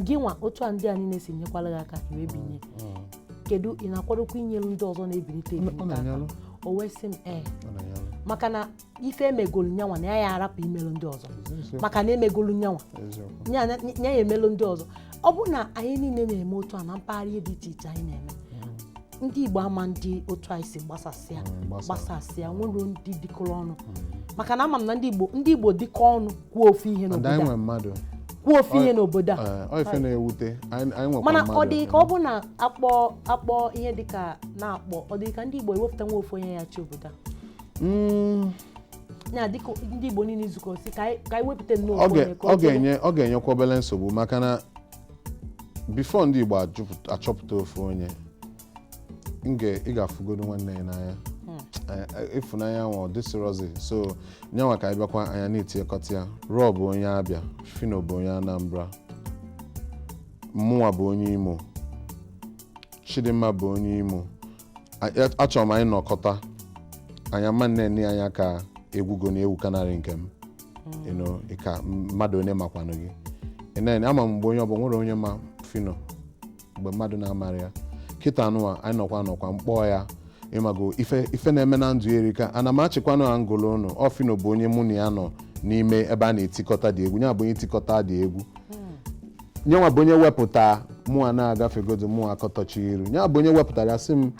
gị nwa otu a ndị a niile si nyekwara gị aka ị wee binie kedu ị na-akwadokwa inyelu ndị ọzọ na-ebinite ebinite aka o wee sị m ee maka na ife emegolu nyanwa na ya ya arapụ imelu ndị ọzọ maka na emegolu nyanwa nya ya-emelu ndị ọzọ ọ bụrụ na anyị niile na-eme otu a na mpaghara ihe dị iche iche anyị na-eme ndị Igbo ama na-adị otu anyị si gbasasịa mm, gbasasịa nwere ndị dịkọrọ ọnụ mm. maka na ama m na ndị Igbo ndị Igbo dịkọ ọnụ kwuo ofu ihe n'obodo kwuo ofu ihe n'obodo a mana ọ dị ka ọ bụ na akpọ akpọ ihe dịka na-akpọ ọ dị ka ndị Igbo iwepụta nwa ofu onye ya-achị obodo a mm. na dịka ndị Igbo niile izukọ sị ka anyị wepụta nnọọ ọ ga-enyekwa obere nsogbu maka na before ndị Igbo achọpụta ofu onye ị ga-afụgodo nwanne ya n'anya hmm. ịfụnanya nwa adịsịrọzi sọ nyanwa ka anyị bịakwa anyị na-etinyekọta ya Raw bụ onye Abịa Phyno bụ onye Anambra mụnwa bụ onye Imo Chidimma bụ onye Imo achọrọ m anyị nọkọta anyị ama na-ene anya ka egwu gị na-ewu kanarị nke m mm. ka mmadụ onye makwanụ gị enene ama m mgbe onye ọbụla nwere onye ma Phyno mgbe mmadụ na-amarọ ya kịta anụwa anyị nọkwa nọkwa m kpọọ ya ị mago ife ife na-eme na ndụ erika ana m achịkwanụ ha ngolo ụnụ ọ Phyno bụ onye mụ na ya nọ n'ime ebe a na-etikọta dị egwu ya bụ onye tikọta dị egwu hmm. nya nwa bụ onye wepụta mụwa na-agafegodu mụwa akọtọchi iru nya bụ onye wepụtara ya sị m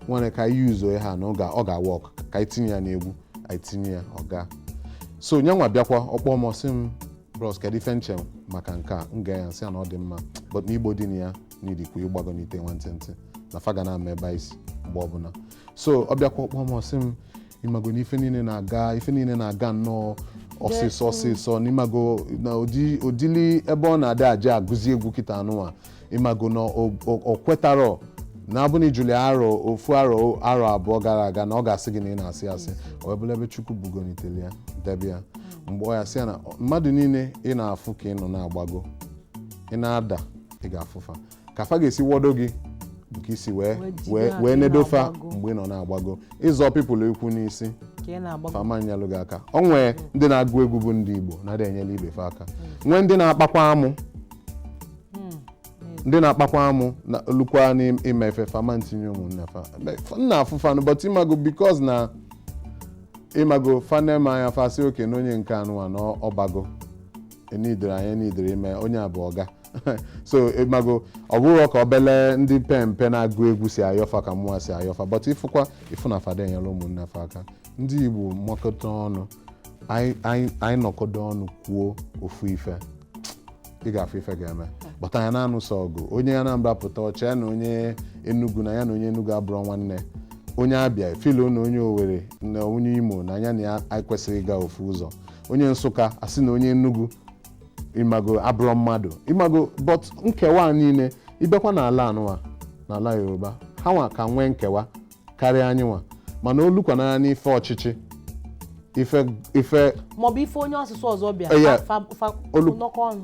nwere ka anyị use ha na ọ ga- ọ ga-awork ka anyị tinye ya n'egwu anyị tinye ya ọ gaa so nya nwa bịakwa ọ kpọ m sị m bros kedu ife m che maka nke a m gwa ya sị ya na ọ dị mma but na igbo dị na ya n'idikwa ịgbagonite nwantịntị na fa ga na-ama ebe i si mgbe ọbụla so ọ bịakwa ọ kpọ m ọ sị m ị mago na ife niile na-aga ife niile na-aga nnọọ ọsịsọ ọsịsọ na ị mago na ụdị ụdịlị ebe ọ na-adị a ja-agụzi egwu kịta a nụnwa ị mago na o- o- o kwetarọ na abụ na ị jụlụ ya ofu arọ arọ abụọ gara aga na ọ ga-asị gị na ị na-asị asị o wee bụlụ ebe chukwu bugonitere ya debe ya m gwa ya sị ya na mmadụ niile ị na-afụ ka ị nọ na-agbago ị na-ada ị ga-afụ fa ka fa ga-esi wọdo gị bụ ka i si wee Wee jide wee aka wee ị nedo fa na-agbago. mgbe ị nọ na-agbago ị zọ people ụkwụ n'isi ka ị na-agbago fa ama nyelụ gị aka o nwee ndị na-agụ egwu bụ ndị igbo na-adị enyela ibe fa aka nwee ndị na-akpakwa amụ ndị na-akpakwa amụ na lukwa n'ime ife fa ama ntinye ụmụnne fa Be- fa- nna afụfanụ but ị mago because na ị mago fa nee m anya fa sị okay na onye nke a nụwa na ọ bago enidere anyị enidere ime onye a bụ ọga so ị mago ọ bụrụ ka obele ndị mpe mpe na-agụ egwu si ayọ fa ka mụwa si ayọ fa but ị fụkwa ị fụ na fa ada enyela ụmụnne fa aka ndị igbo makọta ọnụ anyị- anyị anyị nọkọdo ọnụ kwuo ofu ife ị ga-afụ ife ga-eme but anyị na-anụsọ ọgụ onye anambra pụta ọ sị ya na onye enugu na ya na onye enugu abụrọ nwanne onye abịa efeeluo na onye owere na onye imo na ya na ya anyị kwesịrị ịga ofu ụzọ onye nsụka asị na onye enugu ị mago abụrọ mmadụ ị mago but nkewa a niile ị bịakwa n'ala a nụwa n'ala yoruba ha nwa ka nwee nkewa karịa anyị nwa mana o lukwana n'ife ọchịchị ife ife maọbụ ife onye asụsụ ọzọ bịa Eh, yeah. fa- fa- fa- Olu- nọkọ ọnụ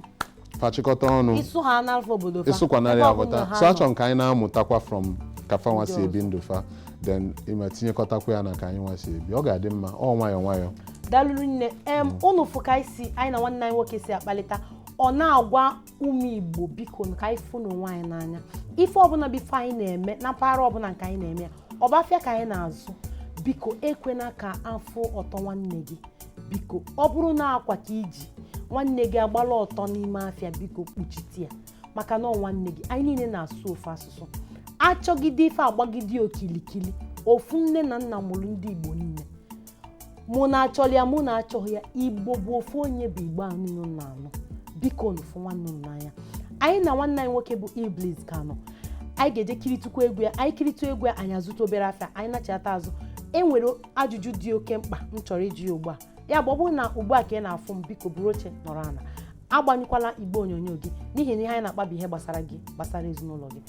fa chịkọta ọnụ ịsụ ha n'alfa obodo fa ịsụkwanarị ebe ọ bụla aghọta ha so nọ. a chọ ka anyị na-amụtakwa from ka fa nwa si ebi ndụ fa then ịma tinyekọtakwa ya na ka anyị nwa si ebi ọ ga-adị mma ọ nwayọọ nwayọọ daalụ rinne em ụnụ fụ ka anyị si anyị na nwanne anyị nwoke si akpalịta ọ na-agwa ụmụ igbo biko ka anyị fụnụ onwe anyị n'anya ife ọbụla bụ ife anyị na-eme na mpaghara ọbụla nke anyị na-eme ya ọ bụ afịa ka anyị na-azụ biko ekwena ka a fụ ọtọ nwanne gị biko ọ bụrụ na akwa ka i ji nwanne gị agbala ọtọ n'ime afịa biko kpuchite ya maka na ọ nwanne gị anyị niile na-asụ ofu asụsụ a chọgide ife a gbagide okilikili ofu nne na nna mụrụ ndị igbo niile mụ na achọrọ ya mụ na achọghị ya igbo bụ ofu onye bụ igbo anụ nọ na anụ biko nụfụ nwanne m n'anya anyị na nwanne anyị nwoke bụ Illbliss ka nọ anyị ga-eje kiritukwa egwu ya anyị kiritu egwu ya anyị azụta obere afịa anyị nachata azụ e nwere ajụjụ dị oke mkpa m chọrọ ịjụ ya ugbu a ya bụ ọ bụrụ na ugbu a ka ị na-afụ m biko buru oche nọrọ ana agbanyụkwala igbe onyonyo gị n'ihi na ihe anyị na-akpa bụ ihe gbasara gị gbasara ezinụlọ gị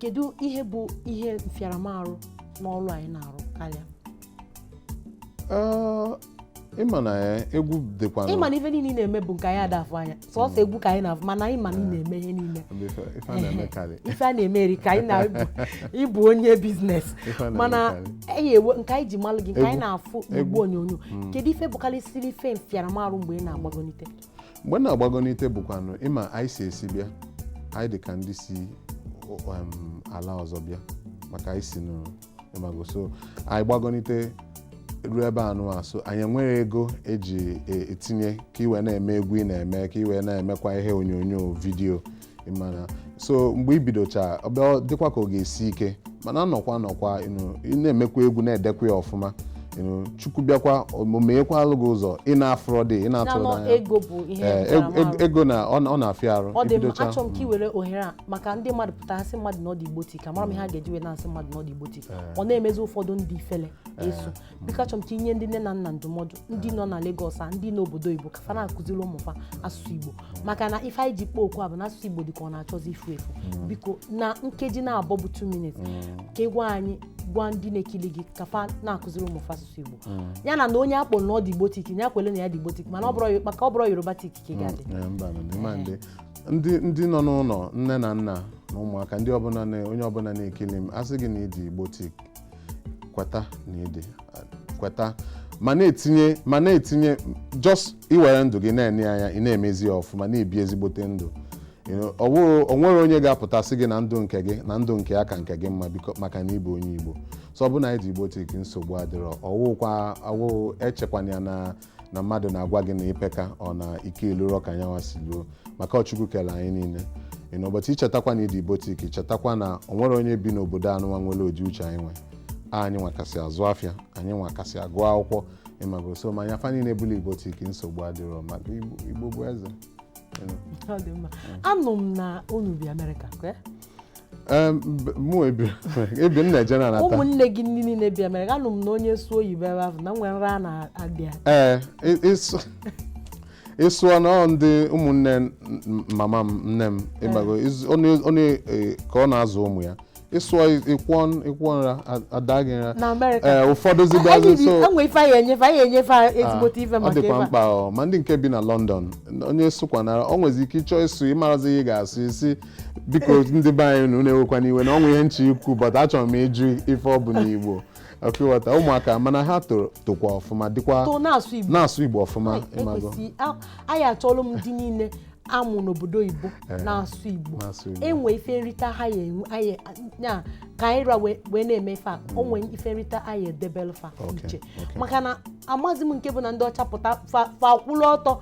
kedu ihe bụ ihe mfịaramarụ n'ọrụ anyị na-arụ karịa ị ma na egwu dịkwa ị ma na ife niile ị na-eme bụ nke anyị adafụ anya sọsọ hmm. egwu ka anyị na-afụ mana anyị ma na ị na-eme ihe niile ife a na-eme erika anyị na ị bụ onye biznes mana nke anyị ji malụ gị nke anyị na-afụ n'igbe onyonyo hmm. kedu ife bụkarịsịrị ife mfịaramarụ mgbe ị na-agbagonite mgbe m na-agbagonite bụkwanụ ị ma anyị si esi bịa anyị dị ka ndị si um, ala ọzọ bịa maka anyị si n'ịmago so anyị gbagonite ruo ebe anụwa so anyị enwerọ ego e ji e, etinye ka i wee na-eme egwu ị na-eme ka i wee na-emekwa ihe onyonyo vidiyo ịmana so mgbe i bidocha ọ bịa dịkwa ka ọ ga-esi ike mana anọkwa anọkwa you know ị na-emekwa egwu na-edekwa ya ọfụma you know chukwu bịakwa o menyekwaalụ gị ụzọ ị na-afụ road ị na-atụrụ na-anọ n'anya ego bụ ihe Ee, ego- ntaramahụhụ. ego- ego na ọ na- ọ na-afịa arụ ọ dị mma ibidocha achọrọ m ka ị were ohere a maka ndị mmadụ pụta ha sị mmadụ na ọ dị Igbotic amarọ m ihe ha ga-eji wee na-asị mmadụ na ọ dị Igbotic ọ na-emezi ụfọdụ ndị ifele so biko achọrọ m ka i nye ndị nne na nna ndụmọdụ ndị nọ na Lagos a ndị n'obodo Igbo ka fa na-akụziri ụmụ fa asụsụ Igbo maka na ife anyị ji kpọọ okwu a bụ na asụsụ Igbo dị ka ọ na-achọzi ifu efu mm. biko na nkeji naabọ bụ 2 minutes mm. ka ị gwa anyị gwa ndị na-ekili gị ka fa na-akụziri ụmụ fa asụsụ Igbo mm. ya na na onye a kpọ na ọ dị Igbotic ya kwele na ya dị Igbotic mana maka ọ bụrọ Yorubatic ka ị ga-adị eh, ndị nọ n'ụlọ nne na nna na ụmụaka ndị ọbụla onye ọbụla na-ekili m a sị gị na ị dị Igbotic kweta na ị dị kweta ma na-etinye ma na-etinye just i were ndụ gị na-enye anya ị na-emezi ya ọfụma na-ebi ezigbote ndụ You know, ọ wụrụ- o nwerọ onye ga-apụta sị gị na ndụ nke gị na ndụ nke ya ka nke gị mma biko maka na ị bụ onye igbo so ọ bụ na ị dị Igbotic nsogbu adịrọ ọwụkwa awụ echekwana ya na na mmadụ na-agwa gị na i peka ọ na ike elurọ ka nyanwa si luo maka ọ Chukwu kele anyị niile you know ụbọchị i chetakwa na ị dị Igbotic chetakwa na o nwere onye bi n'obodo anụnwa nwere ụdị uche anyị nwe anyị nwa kasị azụ afịa anyị nwa kasị agụ akwụkwọ ị mago so ma nya fa niile bụla Igbotic nsogbu adịrọ maka igbo bụ eze anụ m na unu bi amerịka ụmụnne gị ndị niile bi Amerịka anụ m na onye sụọ oyibo ebe ahụ na e nwere nra na-adị ya ee ị sụọ na ndị ụmụnne mama m nne m ịgbago onye e, ka ọ na-azụ ụmụ ya ị sụọ ị kwụọ ị kwụọ nra a daa gị nra ee ụfọdụ zigazi so ọ dịkwa mkpa ma ndị nke bi na London onye sụkwanara ọ nwezi ike ịchọ ịsụ ị marazi ihe ị ga-asụ isi biko ndị be anyị unu ewekwana iwe na o nwe ihe m chọ ikwu but achọrọ m ịjụ ife ọ bụ n'igbo ọkụghọta ụmụaka mana ha toro tokwa ọfụma dịkwa too na-asụ igbo na-asụ igbo ọfụma Anyị ị mago ekwesị a- anyị achọlụ m ndị niile a mụ n'obodo oyibo Eh, na-asụ igbo na-asụ Igbo. e nwee ife nrita ha ya enwe anyị ya ka anyị ra wee wee na-eme ife a o nwee ife nrita anyị edebelụ fa Okay, iche okay. maka na amazi m nke bụ na ndị ọcha pụta fa fa kwụrụ ọtọ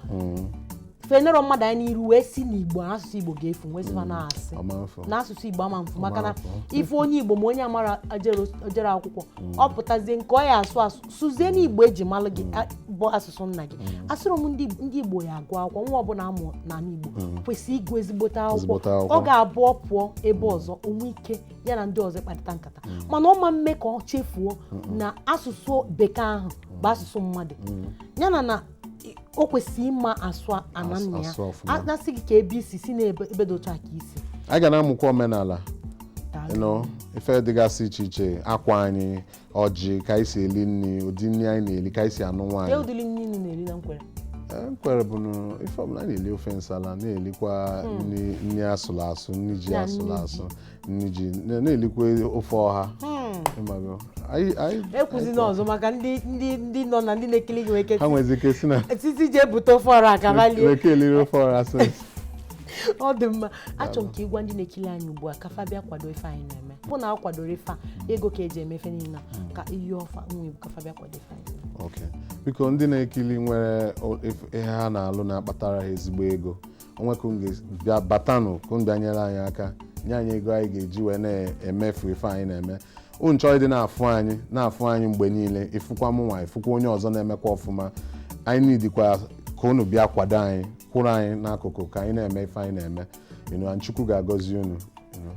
fa enero mmadụ anya n'iru wee sị na igbo asụsụ igbo ga-efu m wee sị fa na asị Ama efu. na asụsụ igbo ama mfu maka na Ama efu. ị fụ onye igbo ma onye a maara ajero- o jere akwụkwọ ọ pụtazie nke ọ ya asụ asụ sụzie na igbo e ji malụ gị a- bụ asụsụ nna gị asụrụ m ndị ndị igbo ya agụ akwụkwọ nwa ọbụla a mụ na igbo kwesịrị ịgụ ezigbote akwụkwọ Ezigbote akwụkwọ. ọ ga-abụ ọ pụọ ebe ọzọ o nwee ike ya na ndị ọzọ kparịta nkata mana ọ ma mme ka ọ chefuo na asụsụ bekee ahụ bụ asụsụ mmadụ ya na na o kwesịrị ịma asụ ana nna ya asụ ọfụma. A- na-asị gị ka ebe i si si na ebe ebe dị otu a ka i si anyị ga na-amụkwa omenala Daalụ. you know, ife dịgasị iche iche akwa anyị ọjị ka anyị si eli nri ụdị nri anyị na-eli ka anyị si anụ Kee nwaanyị ụdịrị nri unu na-eri na Nkwere Eh, Nkwere bụ na ife ọbụla anyị na-eli ofe nsala na-elikwa nri nri a sụrụ asụ nri ji Ya, a sụrụ nri ji. asụ nri ji na- na-elikwa ofe ọha ị mago Anyị- anyị- ekwuzina ọzọ maka ndị ndị ndị nọ na ndị na-ekili gị nwere ike ha nwezi ike si na TV je ebute ofe ọra ka ha lie nwee ike eliri ofe ọha asị ọ dị mma achọrọ m ka ị gwa ndị na-ekili anyị ugbu a ka fa bịa kwado ife anyị na-eme bụ na a kwadoro ife a ego ka e ji eme ife niile a, ka ị yọọ fa nwa igbo ka fa bịa kwado ife anyị na-eme. ok biko ndị na-ekili nwere o- if- ihe ha na-alụ na-akpatara ha ezigbo ego o nwe ka unu ga-abịa batanụ ka unu bịa nyere anyị aka nye anyị ego anyị ga-eji wee na-emefu ife anyị na-eme unu chọọ ịdị na-afụ anyị na-afụ anyị mgbe niile ị fụkwa mụ nwa ị fụkwa onye ọzọ na-emekwa ọfụma anyị needikwa ka unu bịa kwado anyị kwụrụ anyị n'akụkụ ka anyị na-eme ife anyị na-eme you know, and Chukwu ga-agọzi unu you know.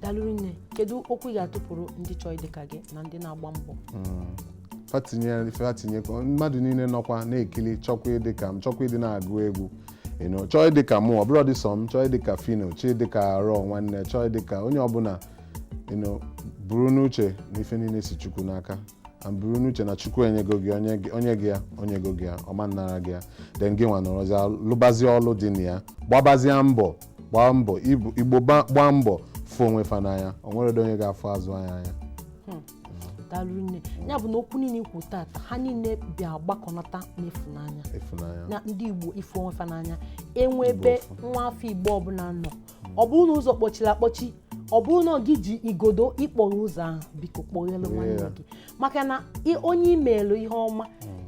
daalụ nne kedu okwu ị ga-atụpụrụ ndị chọọ ịdị ka gị na ndị na-agba mbọ fa tinye fa tinye ka mmadụ niile nọkwa na-ekili chọkwa ịdị ka m chọkwa ịdị na-agụ egwu you know chọọ ịdị ka mụ ọ bụrụ dị sọ m chọọ ịdị ka Phyno chọọ ịdị ka Raw nwanne chọọ ịdị ka onye ọbụla you know buru n'uche na ife niile si chukwu n'aka and buru n'uche na chukwu enyego gị o nye gị- o nye gị ya o nyego gị ya ọ ma-anara gị ya then gị nwa nọrọzie lụbazie ọlụ dị na ya gbabazie mbọ gbaa mbọ Ibu- igbo gba- gbaa mbọ fụ onwe fa n'anya o nweredo onye ga-afụzị anyị n'anya daalụ rinne ya bụ na okwu niile i kwu tata ha niile bịa gbakọnata n'ịfụnanya ịfụnanya na ndị igbo ịfụ onwe fa n'anya e nwee ebe Igbo ọfụ. nwa afọ igbo ọbụla nọ ọ bụrụ na ụzọ kpọchiri akpọchi ọ bụrụ na gị ji igodo ịkpọghe ụzọ ahụ biko kpọghelu nwanne Yeah. gị maka na ị- onye i meelu ihe ọma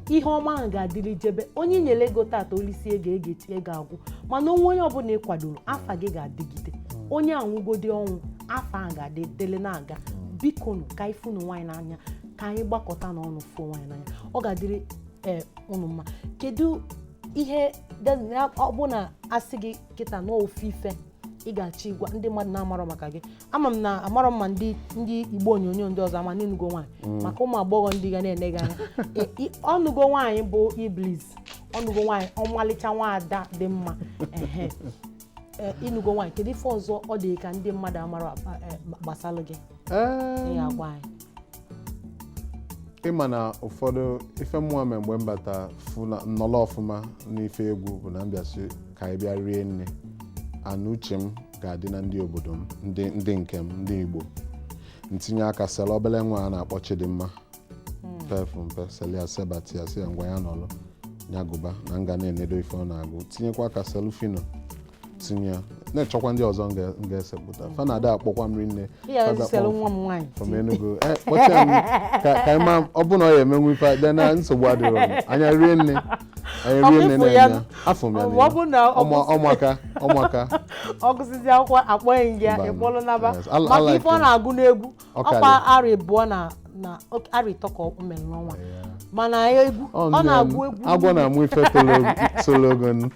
ihe ọma ahụ ga-adịrị jebe onye i nyere ego tata o lisie ego ego echi ego agwụ mana onwe onye ọbụla ị kwadoro afa gị ga-adịgide onye a nwụgodi ọnwụ afa ahụ ga-adị dele na-aga bikonụ ka anyị fụnụ onwe anyị n'anya ka anyị gbakọtanụ ọnụ fụ onwe anyị n'anya ọ ga-adịrị ee ụnụ mma kedu ihe de- ya- ọ bụ na a sị gị kịta na ofu ife ị ga-achọ ịgwa ndị mmadụ na-amarọ maka gị ama m na amarọ m ma ndị ndị igbo onyonyo ndị ọzọ ama na ị nụgo nwaanyị mm. maka ụmụ agbọghọ ndị ga na-ene gị anya ọ nụgo nwaanyị bụ Illbliss ọ nụgo nwaanyị ọmalịcha nwaada dị mma e, ị nụgo nwaanyị kedu ife ọzọ ọ dị ka ndị mmadụ amarọ e, gbasara gị agwa anyị ị ma na ụfọdụ ife mụwa mee mgbe m bata fụ na m nọrọ ọfụma n'ife egwu bụ na m bịa sị ka anyị bịa rinne and uche m ga-adị na ndị obodo m ndị ndị nke m ndị igbo m tinye aka selu obele nwa a na-akpọ Chidinma pefụ mpe selu ya sebata ya sị ya ngwa ya nọlụ ya gụba na m ga na-enedo ife ọ na-agụ tinyekwa aka selu Phyno tinye ya na-achọkwa ndị ọzọ m ga-esepụta fa na-ada akpọkwa m rinne from Enugu eh, kpọchie m ka anyị ma ọ bụ na ọ ya-emenwu ife dị na nsogbu adịrọ m anya rinne anya rinne na-anya afọ m ya na ụmụaka ụmụaka ọ gụsịzie akwụkwọ akpọnye gị ya ị kpọlụ naba maka ife ọ na-agụ n'egwu Ọ ọkwa karịrị. arị abụọ na na ok- arị ịtọ ka o mere n'ọnwa mana egwu Ọ ọ nne m, na-agụ egwu agwọ niile. na-amụ ife toro og- toro ogonogo.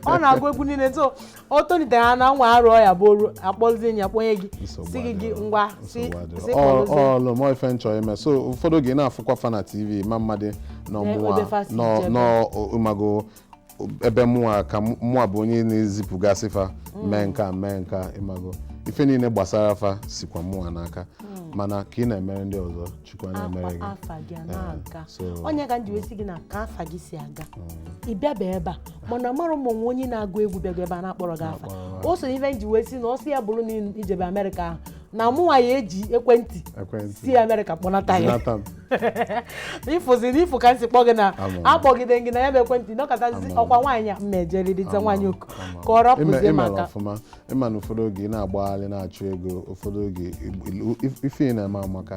ọ na-agụ egwu niile so o tolitere ha na nwa arụọ ya bụ ọrụ akpọzie ya kpọnye gị Nsogbu sị gị gị adịrọ. ngwa si Nsogbu adịrọ. si Ọ- kpọrọzie ọ lụọ m ife m chọ ime so ụfọdụ oge ị na-afụkwa fa na tv ma mmadụ na ọ mụwa odefa si nọ jebe. nọ ị mago ebe mụnwa ka mụ- mụnwa bụ onye na-ezipụgasị fa mee nke a mee nke a ị mago ife niile gbasara fa sikwa mụnwa n'aka mana ka ị na-emere ndị ọzọ chukwu a na-emerekwa gị afa gị a na-aga so onye ka m ji wee sị gị na ka afa gị si aga ị bịaba ebe a mana amara m o nwe onye na-agụ egwu bịago ebe a na-akpọrọ gị afa o so n'ife m ji wee sị na ọ sị ya bụrụ na i jebe amerịka ahụ na mụnwa ya eji ekwentị ekwentị si amerịka kpọnata ya Jonathan ị fụzi na ị fụ ka m si kpọ gị na-akpọgide gị na ya bụ ekwentị nọkatazi ọkwa nwaanyị a m ma ejeriri za nwaanyị oku ka ọ rapụzie m aka ọfụma ị ma na ụfọdụ oge ị na-agbagharị na-achụ ego ụfọdụ oge ife ị na-eme amaka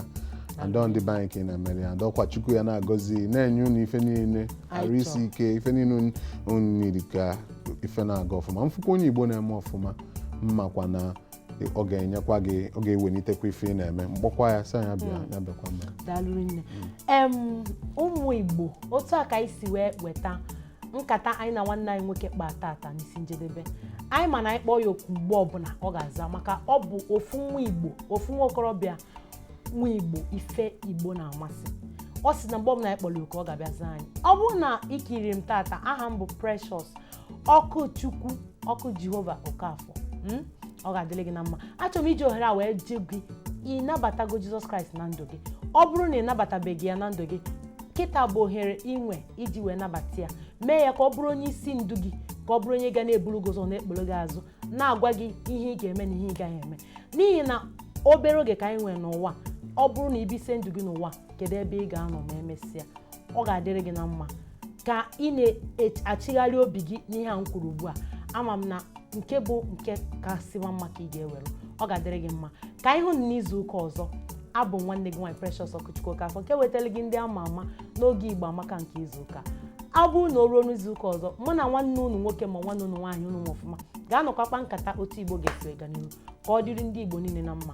and ọ ndị be anyị ka ị na-emere ya and ọkwa Chukwu ya na-agọzi na-enye unu ife niile arụ isi ike ife niile unu na-eri ka ife na-aga ọfụma m fụkwa onye Igbo na-eme ọfụma m makwa na ọ ga-enyekwa gị ọ ga-ewelitekwa ife ị na-eme m kpọkwa ya sị ya bịa hmm. ya bịakwa mma daalụ rinne hmm. ụmụ Igbo otu a ka anyị si wee weta nkata anyị na nwanne anyị nwoke kpa tata n'isi njedebe anyị ma na anyị kpọọ ya oku mgbe ọbụla ọ ga-aza maka ọ bụ ofu nwa Igbo ofu nwa okorobịa nwa Igbo ife Igbo na-amasị ọ sị na mgbe ọbụla anyị kpọrọ oku ọ ga-abịa zaa anyị ọ bụrụ na i kiri m tata aha m bụ Precious Ọkụchukwu ọkụ Jehova Okafọ mm? ọ ga-adịrị gị na mma achọrọ m iji ohere a wee jụ gị ị nabatago Jizọs Kraịst na ndụ gị ọ bụrụ na ị nabatabeghị ya na ndụ gị kịta bụ ohere i nwe iji wee nabata ya mee ya ka ọ bụrụ onye isi ndụ gị ka ọ bụrụ onye ga na-eburu gị ụzọ na-ekporo gị azụ na-agwa gị ihe ị ga-eme na ihe ị gaghị eme n'ihi na obere oge ka anyị nwere n'ụwa ọ bụrụ na i bisie ndụ gị n'ụwa kedu ebe ị ga-anọ ma emesịa ọ ga-adịrị gị na mma ka ị na-achịgharị obi gị n'ihe a m kwuru ugbu a ama m na nke bụ nke kasị maa mma ka ị ga-ewere ọ ga-adịrị gị mma ka anyị hụ n'izu ụka ọzọ abụ m nwanne gị nwaanyị Precious Ọkụchukwu Okafọ nke wetara gị ndị ama ama n'oge Igbo Amaka nke izu ụka a ọ bụrụ na o ruo n'izu ụka ọzọ mụ na nwanne unu nwoke ma nwanne unu nwaanyị unu ọfụma ga-anọkwa kpa nkata otu Igbo ga-esi ega n'ihu ka ọ dịrị ndị Igbo niile na mma